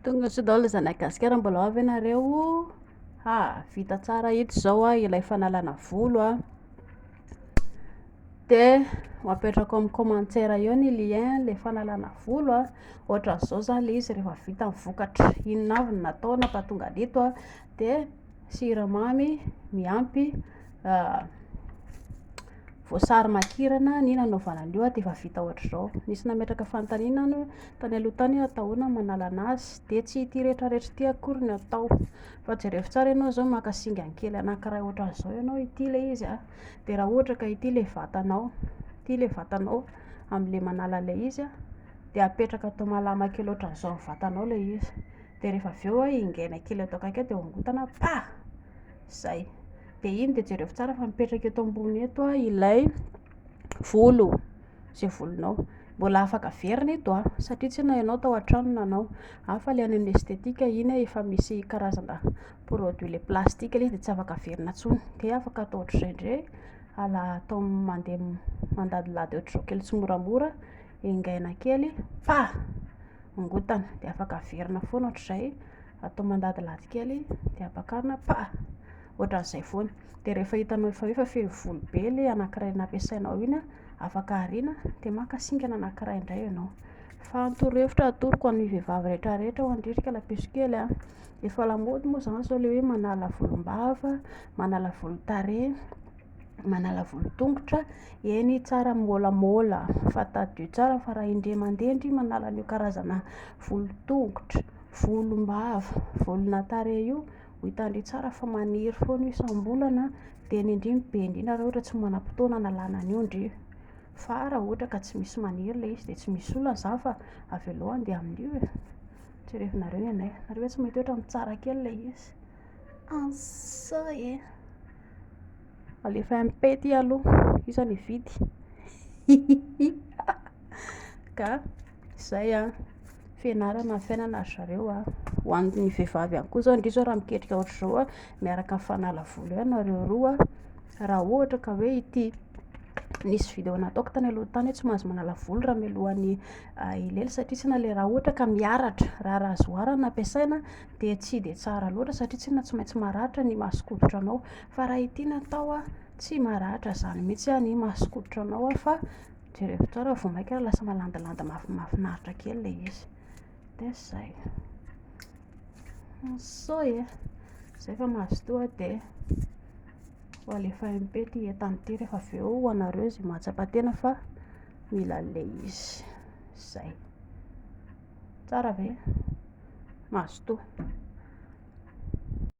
Tonga soa daholo zanak'i Gasikara, mbola ao ve nareo? Ha, vita tsara ito izao a, ilay fanalana volo a. Dia ho apetrako amin'ny commentaire eo ny lien ilay fanalana volo a. Ohatran'izao izany ilay izy rehefa vita ny vokatra. Inona avy no natao nampahatonga an'ito a? Dia. Siramamy miampy voasary makirana ny nanaovana an'io dia efa vita ohatr'izao. Nisy nametraka fanontaniana aho tany aloha tany hoe atao ahoana ny manalana azy, dia tsy ity rehetrarehetra ity akory no atao fa jereo tsara ianao izao maka singany kely anankiray ohatran'izao ianao, ity ilay izy a, dia raha ohatra ka ity ilay vatanao, ity ilay vatanao amin'ilay manala an'ilay izy a, dia apetraka atao malama kely ohatran'izao ny vatanao ilay izy. Dia rehefa avy eo ingaina kely ato akaiky dia hongotana pah! Izay. Dia iny dia jereo tsara fa mipetraka eto ambony eto ilay volo, izay volonao. Mbola afaka averina eto an, satria tsy ianao tao an-trano nanao. An, fa ilay any amin'ny esthétique iny efa misy karazana produit ilay plastique ilay izy dia tsy afaka averina intsony. Dia afaka atao ohatr'izay indray, ala- atao mandeha mandadilady ohatr'izao kely tsimoramora. engaina kely fa mongotana dia afaka averina foana ohatr'izay atao mandadilady kely dia apakarina fa ohatr'izay foana dia rehefa hitanao efa hoe efa feno volo be ilay anankiray nampiasainao iny afaka ariana dia maka singana anankiray indray ianao fa ny torohevitra atoroko an'ny vehivavy rehetra rehetra ho andrika ilay piso kely a efa lamaody moa izany izao ilay hoe manala volom-bava manala volon-tarehy manala volon-tongotra eny tsara molamola fa tadidio tsara fa raha indray mandeha ndry manala an'io karazana volon-tongotra volom-bava volona tarehy io ho hitandry tsara fa maniry foana io isam-bolana dia ny indrindra be indrindra raha ohatra tsy manam-potoana hanalana an'io ndry fa raha ohatra ka tsy misy maniry ilay izy dia tsy misy olana izany fa avy aloha handeha amin'io e jerevina reo ny anay nareo ve tsy mahita hoe ohatran'ny tsara kely ilay izy Ansa e. Alefa MP ty aloha, io zany hividy. Ka izay a, fianarana ny fiainana ry zareo a. Ho an'ny vehivavy ihany koa izao, indrindra izao raha miketrika ohatr'izao a, miaraka amin'ny fanala volo eo ianareo roa, raha ohatra ka hoe ity nisy video nataoko tany aloha tany hoe tsy mahazo manala volo raha mialohan'ny ah, hilely satria tsy na le raha ohatra ka miaratra, raharaha zoara no ampiasaina, dia tsy dia tsara loatra satria tsinona tsy maintsy maratra ny maha skototra anao fa raha ity natao a tsy maratra izany mihintsy a ny maha skototra anao a fa jerevo tsara vao maika ary lasa malandilandy mahafinaritra kely ilay izy dia zay sao e zay fa mazotoa dia ho alefa MP ity entana ity rehefa avy eo ho anareo izay mahatsapa tena fa mila an'ilay izy zay Tsara ve? Mazotoa.